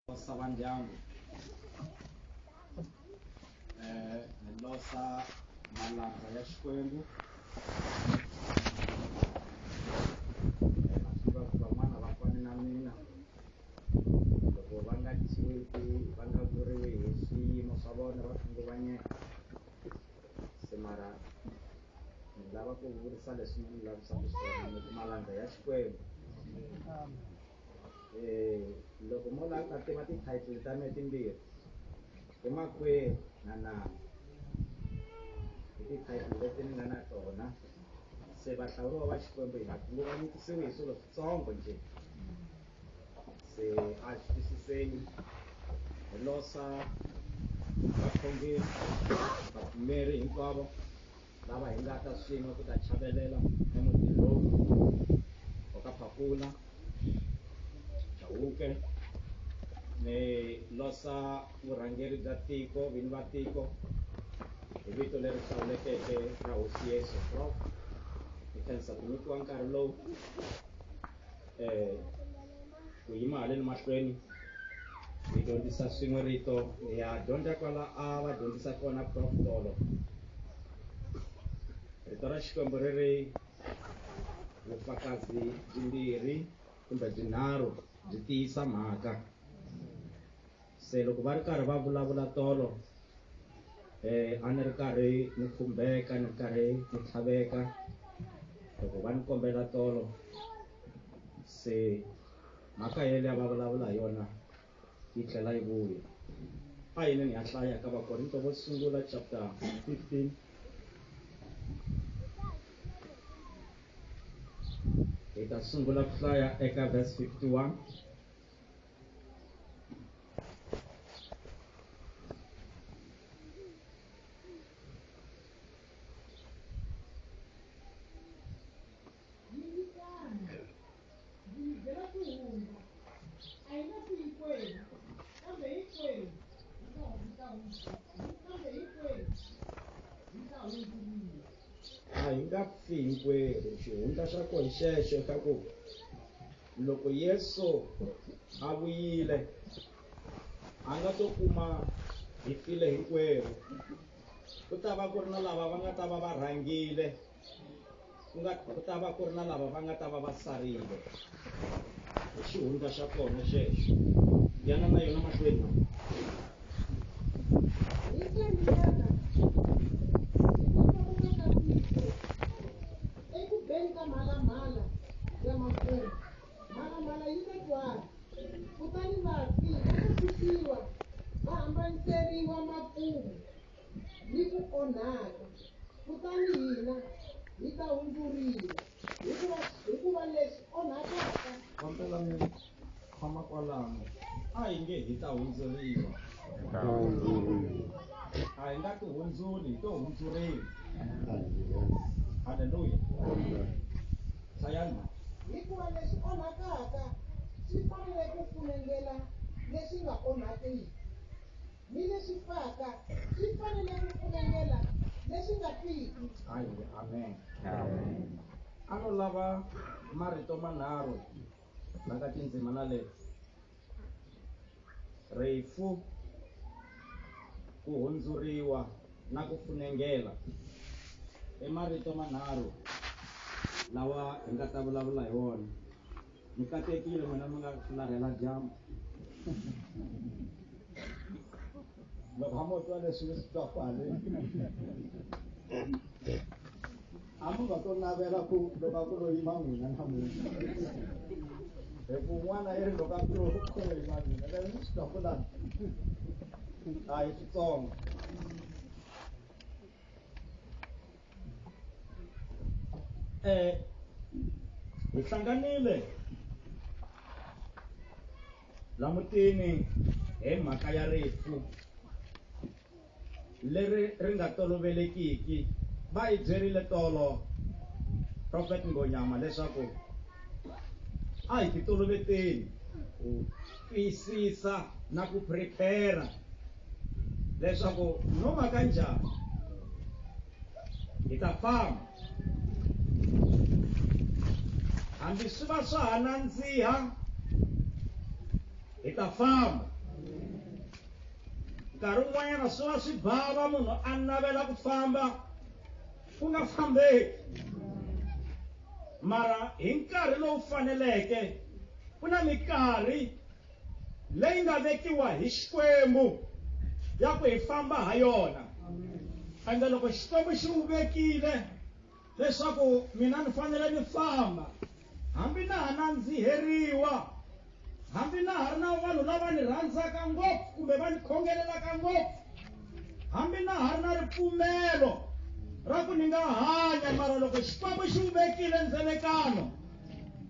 losa va ndyangu eh ni losa malanga ya xikwembu naswiva ku van'wana va fane na mina loko va nga tisiwiki va nga vuriwi hi swiyimo swa vona va khunguvanyeka se mara ni lava ku vurisa leswi ni lavisaka swona ni malanga ya xikwembu loko mo la a tiva ti-title ta me timbirhi i makwenu na nama i ti-title leti ni nga na tona se vahlawuriwa va xikwembu hi ku va nyikisiwe hi swilo switsongo njhe se a xi twisiseni hi losa vakhongeri vapfumeri hinkwavo lava hi nga ta swin'we ku ta chavelela emuti lowu wa ka phakula chawuke ni losa vurhangeri bya tiko vini va tiko hi vito leri hlawulekeke ra hosi yesu prof hi khensa ku nyikiwa nkarhi lowu um ku yima haleni mahlweni hi dyondzisa swin'we rito hi ya dyondza kwala a va dyondzisa kona prof tolo rito ra xikwembu ri ri vufakazi byimbirhi kumbe byinharhu byi tiyisa mhaka se loko va ri karhi va vulavula tolo um a ni ri karhi ni khumbeka ni ri karhi ni tlhaveka loko va ni kombela tolo se mhaka yele ya va vulavula hi yona yi tlhela yi vuya a yini ni ya hlaya ka vakorinto vo sungula chapter 15 hi ta sungula ku hlaya eka verse 51 a hi nga pfi hinkwerhu xihundla xa kona xexo xa ku loko yesu a vuyile a nga to kuma hi file hinkwerhu ku ta va ku ri na lava va nga ta va va rhangile ku nga ku ta va ku ri na lava va nga ta va va sarile hi xihundla xa kona xexo yana na yona mahlweni eku beni ka mhalamhala ya makumu mhalamhala yi ta twala kutani vafi va ta susiwa va hambaniseriwa makumu ni ku onhaka kutani hina hi ta hundzuriwa hikuva hikuva leswi onhakaka tshama kwalano a hi nge hi ta hundzuriwa a hi nga ti hundzuli hi to hundzuriwa halleluya hlayani hikuva lexi onhakaka xi fanele ku funengela lexi nga onhakiki ni lexi faka xi fanele ku funengela lexi nga fiki amen a no lava marito manharhu nanga tindzima na le rifu ku hundzuriwa na ku funengela i marito manharhu lawa hi nga ta vulavula hi wona mi katekile n'wina mi nga larhela dyambu loko a mo twa leswi mi swi twa kwale a mi nga to navela ku loko a ku lo yima n'wina namuntlha hi ku n'wana i ri loko a ku lo ku lo yima n'wina lero ni swi twakulana a hi switsongo eh hi hlanganile la mutini hi mhaka ya rifu leri ri nga tolovelekiki va hi byerile tolo prophet ngonyama leswaku a hi ti toloveteni ku twisisa na ku prepare leswaku no va ka njhani hi ta famba hambi swi va swa ha nandziha hi ta famba nkarhi wun'wanyana swi va swi bava munhu a navela ku famba ku nga fambeki mara hi nkarhi lowu faneleke ku na mikarhi leyi nga vekiwa hi xikwembu ya ku hi famba ha yona ende loko xikwembu xi wu vekile leswaku mina ni fanele ni famba hambi na ha nandziheriwa hambi na ha ri na vanhu lava ni rhandzaka ngopfu kumbe va ni khongelelaka ngopfu hambi na ha ri na ripfumelo ra ku ni nga hanya mara loko xikwembu xi wu vekile ndzelekano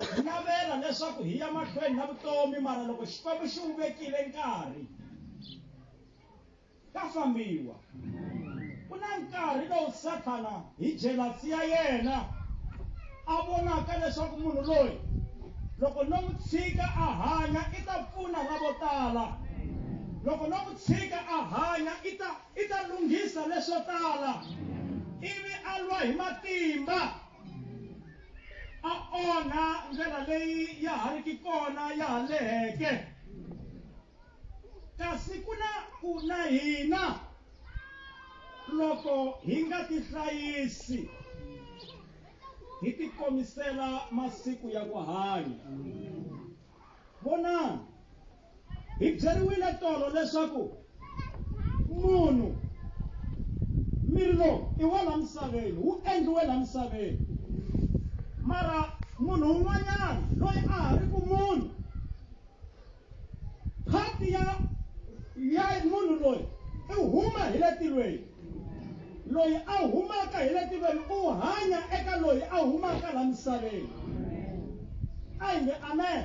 Hi navela leswaku hi ya mahlweni na vutomi mara loko Xikwembu xi wu vekile nkarhi ka fambiwa ku na nkarhi lowu Sathana hi jealous ya yena a vonaka leswaku munhu loyi loko no n'wi tshika a hanya i ta pfuna ra vo tala loko no n'wi tshika a hanya i ta i ta lunghisa leswo tala ivi a lwa hi matimba a onha ndlela leyi ya ha ri ki kona ya ha leheke kasi ku na ku na hina loko hi nga tihlayisi hi tikomisela masiku ya ku hanya vonani hi byeriwile tolo leswaku munhu miri lowu i wa la misaveni wu endliwe la misaveni mara munhu un'wanyana loyi a ha ri ku munhu phati ya ya munhu loyi i huma hi le tilweni loyi a humaka hi le tiveni u hanya eka loyi a humaka la misaveni a hi nge amen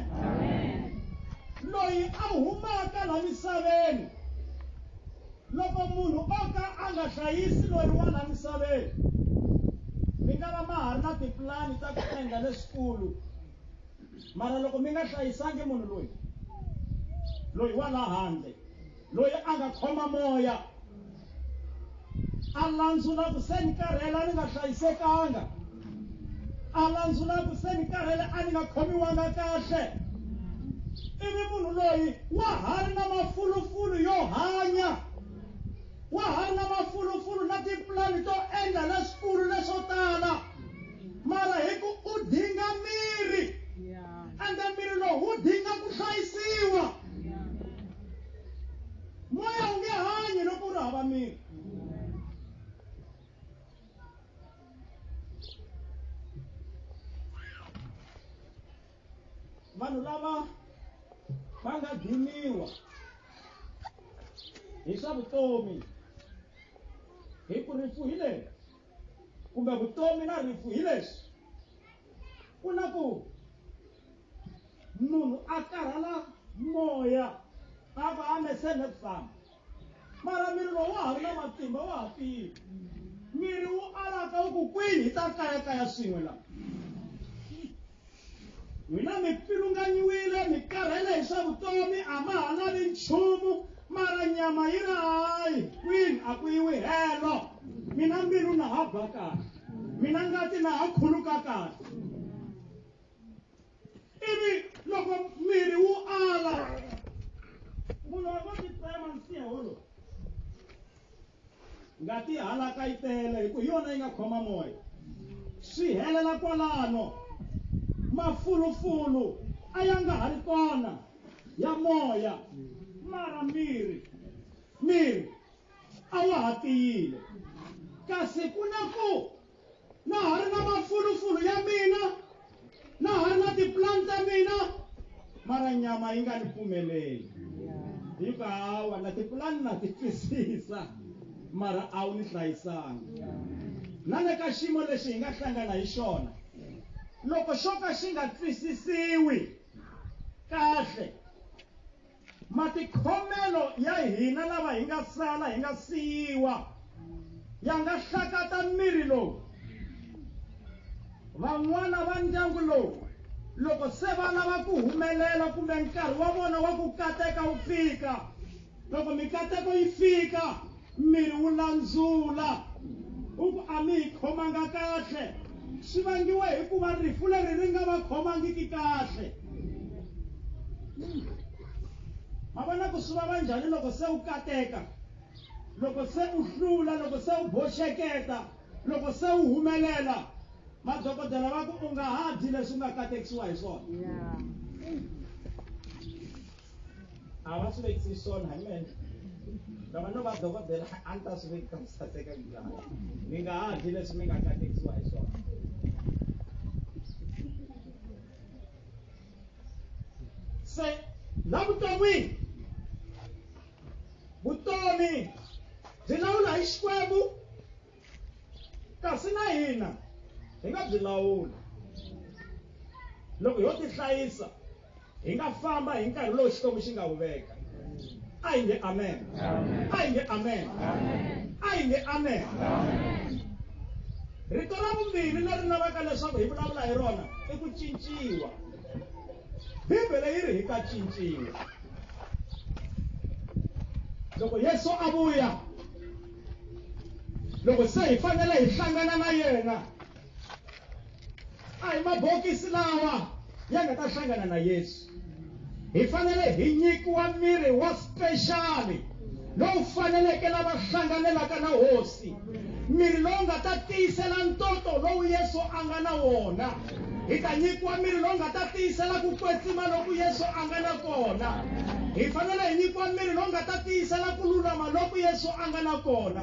loyi a humaka la misaveni loko munhu o ka a nga hlayisi loyi wa la misaveni mi nga va ma ha ri na tipulani ta ku endla leswikulu mara loko mi nga hlayisangi munhu loyi loyi wa la handle loyi a nga khoma moya a landzula ku se ni karhela ni nga hlayisekanga a landzula ku se ni karhele a ni nga khomiwanga kahle ivi munhu loyi wa ha ri na mafulufulu yo hanya wa ha ri na mafulufulu na tipulani to endla leswikulu leswo tala mara hi ku u dinga miri ende miri lowu wu dinga ku hlayisiwa moya wu nge hanyi loko u ri hava miri vanhu lava va nga diniwa hi swa vutomi hi ku rifu hi leswi kumbe vutomi na rifu hi leswi ku na ku munhu a karhala moya a va a mesene ku famba mara miri lowu wa ha ri na matimba wa ha tiyi miri wu alaka wu ku kwini hi ta kayakaya swin'we laha n'wina mi pfilunganyiwile mi karhele hi swa vutomi a ma ha lavi nchumu mara nyama yi ri hayi kwini a ku yiwi helo mina mbilu na ha ba kahle mina ngati na ha khuluka kahle ivi loko miri wu ala munhu a va titsema nsiha wolowo ngati halaka yi tele hi ku hi yona yi nga khoma moya swi helela kwalano mafulufulu a ya nga ha ri kona ya moya mara miri miri a wa ha tiyile kasi ku na ku na ha ri na mafulufulu ya mina na ha ri na tipulani ta mina mara nyama yi nga ni pfumeleli yi ku hawa na tipulani na ti twisisa mara a wu ni hlayisanga na le ka xiyimo lexi hi nga hlangana hi xona loko xo ka xi nga twisisiwi kahle matikhomelo ya hina lava hi nga sala hi nga siyiwa ya nga hlakata miri lowu van'wana va ndyangu lowu loko se va lava ku humelela kumbe nkarhi wa vona wa ku kateka wu fika loko mikateko yi fika miri wu landzula u ku a mi hi khomanga kahle swi vangiwa hikuva rifu leri ri nga va khomangiki kahle ma vona ku swi vava njhani loko se u kateka loko se u hlula loko se u boxeketa loko se u humelela madokodela va ku u nga ha dyi leswi u nga katekisiwa hi swona a va swi vekisi swona hi mene loko no va dokodela a ni ta swi vekisa mi saseka njhani mi nga ha dyi leswi mi nga katekisiwa hi swona se la vuton'wini vutomi byi lawula hi xikwembu kasi na hina hi nga byi lawula loko yo tihlayisa hi nga famba hi nkarhi lowu xikwembu xi nga wu veka a hi nge amen a hi nge amen a hi nge amen rito ra vumbirhi leri lavaka leswaku hi vulavula hi rona i ku cinciwa bibele yi ri hi ta cinciwa loko yesu a vuya loko se hi fanele hi hlangana na yena a hi mabokisi lawa ya nga ta hlangana na yesu hi fanele hi nyikiwa miri wa spexali lowu faneleke lava hlanganelaka na hosi miri lowu nga ta tiyisela ntoto lowu yesu a nga na wona hi ta nyikiwa miri lowu nga ta tiyisela ku kwetsima loku yesu a nga na kona hi fanele hi nyikiwa miri lowu nga ta tiyisela ku lulama loku yesu a nga na kona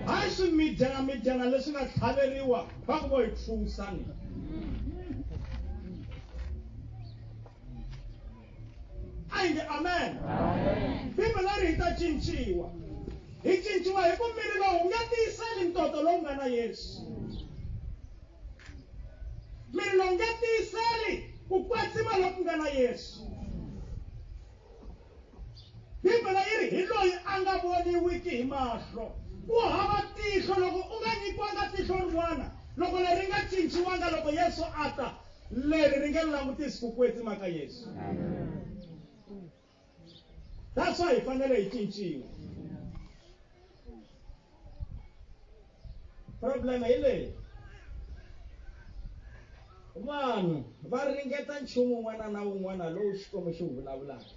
hayi swimidyana midyana leswi nga tlhaveriwa va ku vo hi pfusani a yi nge amen bibele ri hi ta cinciwa hi cinciwa hi ku miri lowu nga tiyiseli ntoto lowu nga na yesu mi nga nga tiyiseli ku kwetsima loku nga na yesu bibele yi ri hi loyi a nga voniwiki hi mahlo ku hava tihlo loko u nga nyikiwanga tihlo rin'wana loko leri nga cinciwanga loko yesu a ta leri ri nge langutisi ku kwetsima ka yesu Amen. that's why hi fanele hi cinciwa problem hi leyi vanhu va ringeta nchumu un'wana na un'wana lowu xikwembu xi wu vulavulaka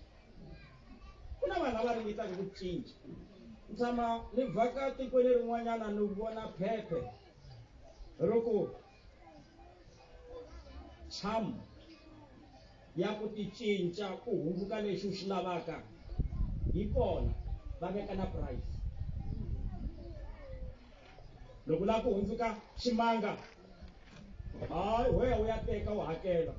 ku na vanhu lava ringetaka ku cinca ni tshama ni vhaka tikweni rin'wanyana ni vona phephe ri ku charm ya ku ti cinca ku hundzuka lexi u xi lavaka hi kona va veka na price loko u lava ku hundzuka ximanga hayi ho ya u ya teka u hakela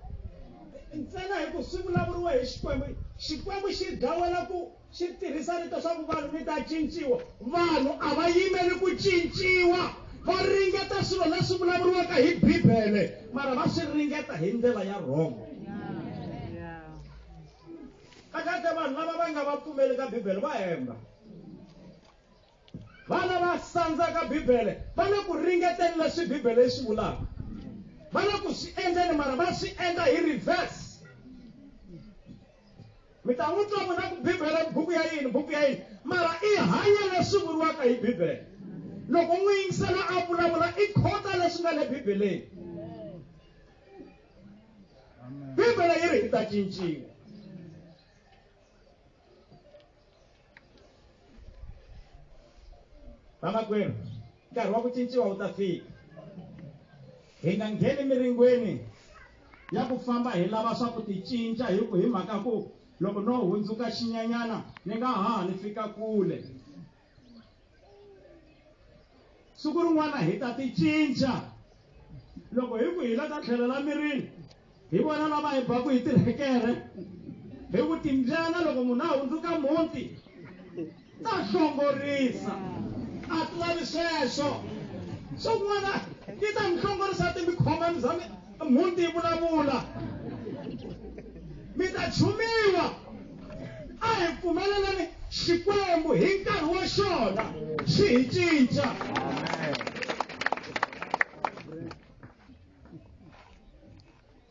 ntsena hi ku swi vulavuriwa hi xikwembu xikwembu xi dawela ku xi tirhisa rito swa ku vanhu mi ta cinciwa vanhu a va yimeli ku cinciwa va ringeta swilo leswi vulavuriwaka hi bibele mara va swi ringeta hi ndlela ya wrong kakate vanhu lava va nga va pfumeli ka bibele va hemba Vana va sandzaka Bibele va le ku ringeteni leswi Bibele yi swi vulaka, va le ku swi endleni mara va swi endla hi reverse. Mi ta n'wi twa n'wina ku Bibele buku ya yini buku ya yini mara i hanya leswi vuriwaka hi Bibele. Loko n'wi yingisela a vulavula i khota leswi nga le Bibeleni. Bibele yi ri hi ta cinciwa. vamakwerhu nkarhi wa ku cinciwa wu ta fika hi nga ngheni miringweni ya ku famba hi lava swa ku ti cinca hi ku hi mhaka ku loko no hundzuka xinyanyana ni nga ha ni fika kule siku rin'wana hi ta ti cinca loko hi ku hi la ta tlhelo la mirini hi vona lava hi baku hi tirhekere hi ku timbyana loko munhu a hundzuka muti ta hlongorisa a ti lavi sweswo swo kun'wana yi ta mi hlongorisa timikhomani bya mina mhunti yi vulavula mi ta chumiwa a hi pfumelelani xikwembu hi nkarhi wa xona xi hi cinca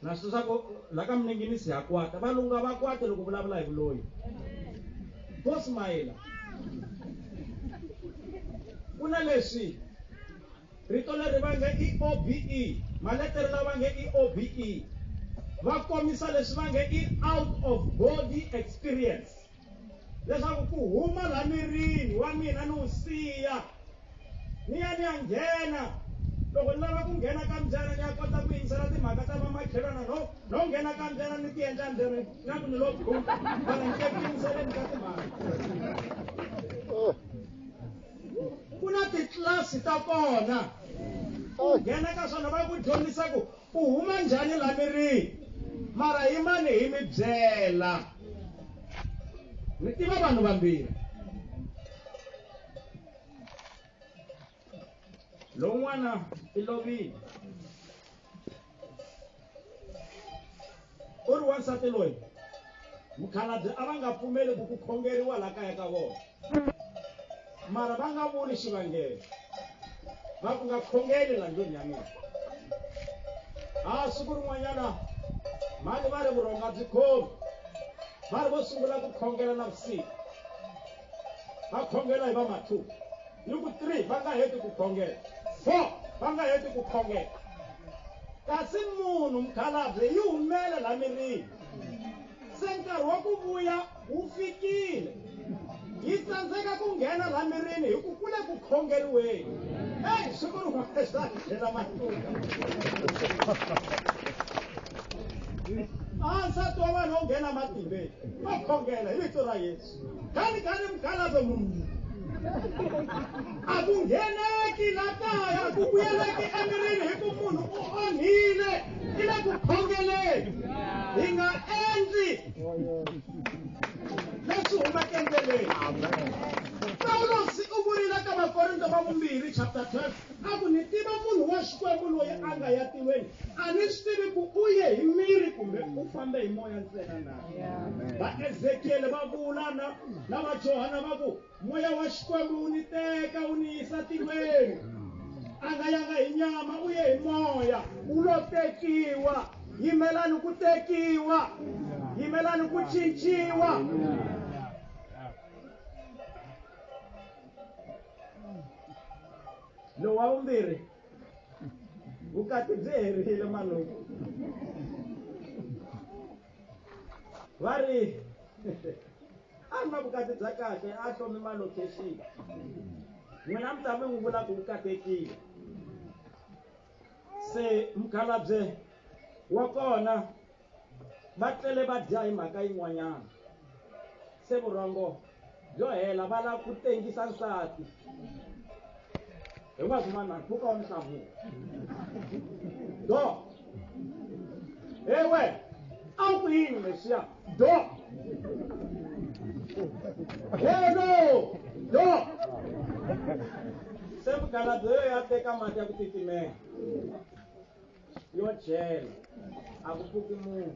na swi swa ku la ka minenginisi ha kwata valungu a va kwate loko vulavula hi vuloyi vo smayela ku na leswi Rito leri va nge i OBE, maletere lawa va nge i OBE, va kombisa leswi va nge i out of body experience leswaku ku huma la mirini wa mina ni wu siya ni ya ni ya nghena loko ni lava ku nghena ka mbyana ni ya kota ku yingisela timhaka ta vamakhelwana no no nghena ka mbyana ni ti endla mbyana na ku ni lo bum vana ni ke ku yingiseleni ka timhaka ku na titlilasi ta kona u nghena ka swona va ku dyondzisa ku u huma njhani la mirini mara hi mani hi mi byela ni tiva vanhu vambirhi lowun'wana i lovile u ri wansati loyi mukhalabye a va nga pfumeli ku ku khongeriwa laha kaya ka vona mara va nga vuli xivangelo va ku nga khongeli la ndlwini ya mina a siku rin'wanyana mhani va ri vurhonga byi khomi va ri vo sungula ku khongela na vusiku va khongela hi va ma two hi ku three va nga heti ku khongela four va nga heti ku khongela kasi munhu mukhalabye yi humela la mirini se nkarhi wa ku vuya wu fikile yi tsandzeka ku nghena la mirini hi ku kule ku khongeriweni eyi swi ku ri n'wesani tlhela matuka ansati wa vanhu wo nghena matimbeni va khongela hi vito ra yesu gani gani mukhalabye munhu a ku ngheneki la kaya ku vuyeleki emirini hi ku munhu u onhile i le ku khongeleni hi nga endli leswi humaka endleleni pawulosi u vurile ka vakorinto va vumbirhi chapter 12 a ku ni tiva munhu wa xikwembu loyi a nga ya tilweni a ni swi tivi ku u ye hi miri kumbe u fambe hi moya ntsena na vaezekiyele va vula na na vajohana va ku moya wa xikwembu wu ni teka wu ni yisa tilweni a nga yanga hi nyama u ye hi moya wu lo tekiwa yimelani ku tekiwa yimelani ku cinciwa lowa vumbirhi vukati byi herile maluku va ri a ri na vukati bya kahle a hlomi malocation n'wina mi ta mi n'wi vula ku u katekile se mukhalabye wa kona Va tlele va dya hi mhaka yin'wanyana. Se vurhongo byo hela va lava ku tengisa nsati. Hinkwaswo vanhu mpfhuka wa mihlavuko. Do. Ewe, a wu ku yini Mesiya? Do. Helo! Do. Se mugaladzo yo ya teka mati ya ku titimela. yo dyela a ku pfuki munhu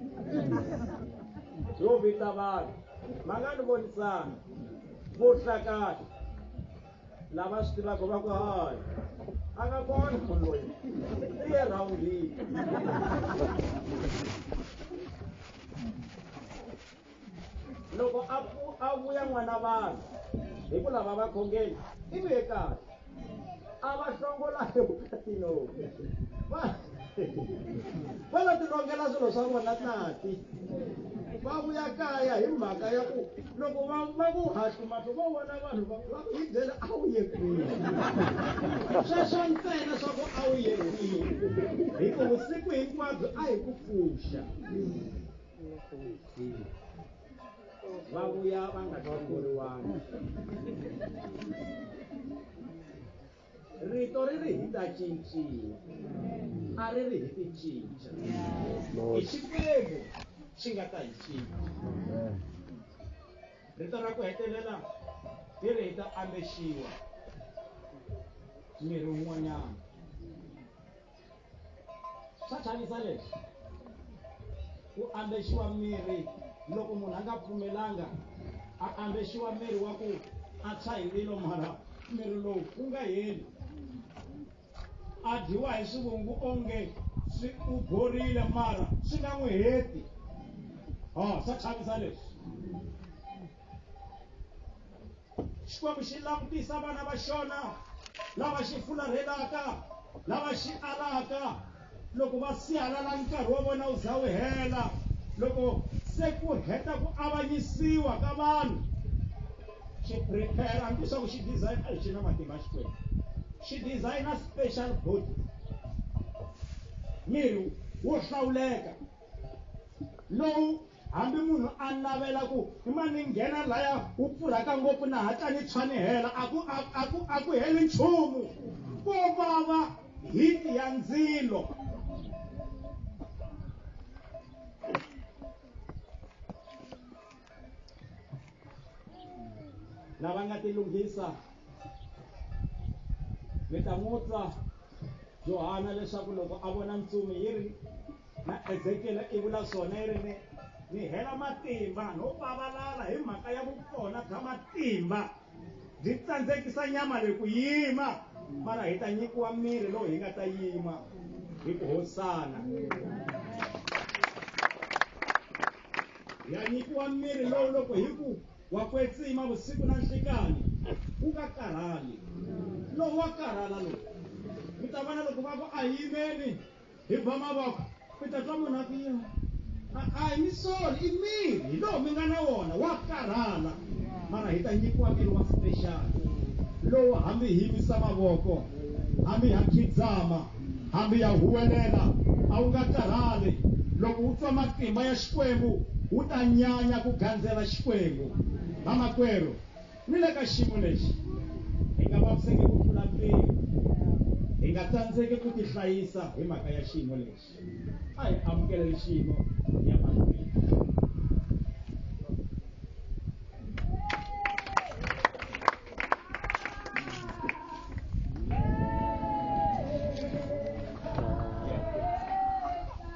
yo vita vanhu ma nga ni vonisana vuhlakani lava swi tivaka va ku hayi a nga kona munhu loyi i ye rhawundini loko a a vuya n'wana vanhu hi ku lava vakhongeni i ve kahle a va hlongola hi vukatino va va la tilongela swilo swa vona tati va vuya kaya hi mhaka ya ku loko va va ku hatli mahlo va vona vanhu va va hi byela a wu ye kwihi sweswo ntsena swa ku a wu ye kwihi hi ku vusiku hinkwabyo a hi ku pfuxa va vuya va nga hlongoriwangi rito ri ri hi ta cinciwa a ri ri hi ti cinca hi xikwembu xi nga ta hi cinca rito ra ku hetelela hi ri hi ta ambexiwa miri wun'wanyana Swa chavisa leswi. Ku ambexiwa mirhi loko munhu a nga pfumelanga a ambexiwa mirhi wa ku a tshwa hi ndzilo mara mirhi lowu wu nga heli. A dyiwa hi swivungu onge swi u borile mara swi nga n'wi heti. Oh, swa chavisa leswi. xikwembu xi langutisa vana va xona lava xi fularhelaka lava xi alaka loko va sihalala nkarhi wa vona wu za wu hela loko se ku heta ku avanyisiwa ka vanhu xi prepare hambi leswaku xi design a xi na matimba xikwembu xi designer special body miri wo hlawuleka lowu Hambi munhu a navela ku, I ma ni nghena laya wu pfurhaka ngopfu na hatla ni tshwa ni hela, a ku, a, a ku, a ku heli nchumu. Ko vava hiti ya ndzilo. lava nga tilunghisa mi ta n'wi twa johana leswaku loko a vona ntsumi yi ri na ezekiele i vula swona yi ri ni ni hela matimba no pavalala hi mhaka ya vukona bya matimba byi tsandzekisa nyama leyi ku yima mara hi ta nyikiwa miri lowu hi nga ta yima hi ku hosana hi ya nyikiwa miri lowu loko hi ku wa kwetsima vusiku na nhlikani wu nga karhali lowu wa karhala lowu mi ta vona loko va ku a yimeni hi ba mavoko mi ta twa munhu a ku yini a hi mi soli i miri hi lowu mi nga na wona wa karhala mara hi ta nyikiwa miri wa special lowu hambi hi yimisa mavoko hambi ha khidzama hambi ya huwelela a wu nga karhali loko wu twa matimba ya xikwembu wu ta nyanya ku gandzela xikwembu vamakwerhu Ni le ka xiyimo lexi, hi nga vaviseki ku tlula mpimo. Hi nga tsandzeki ku tihlayisa hi mhaka ya xiyimo lexi. A hi amukeleli xiyimo hi ya mahlweni.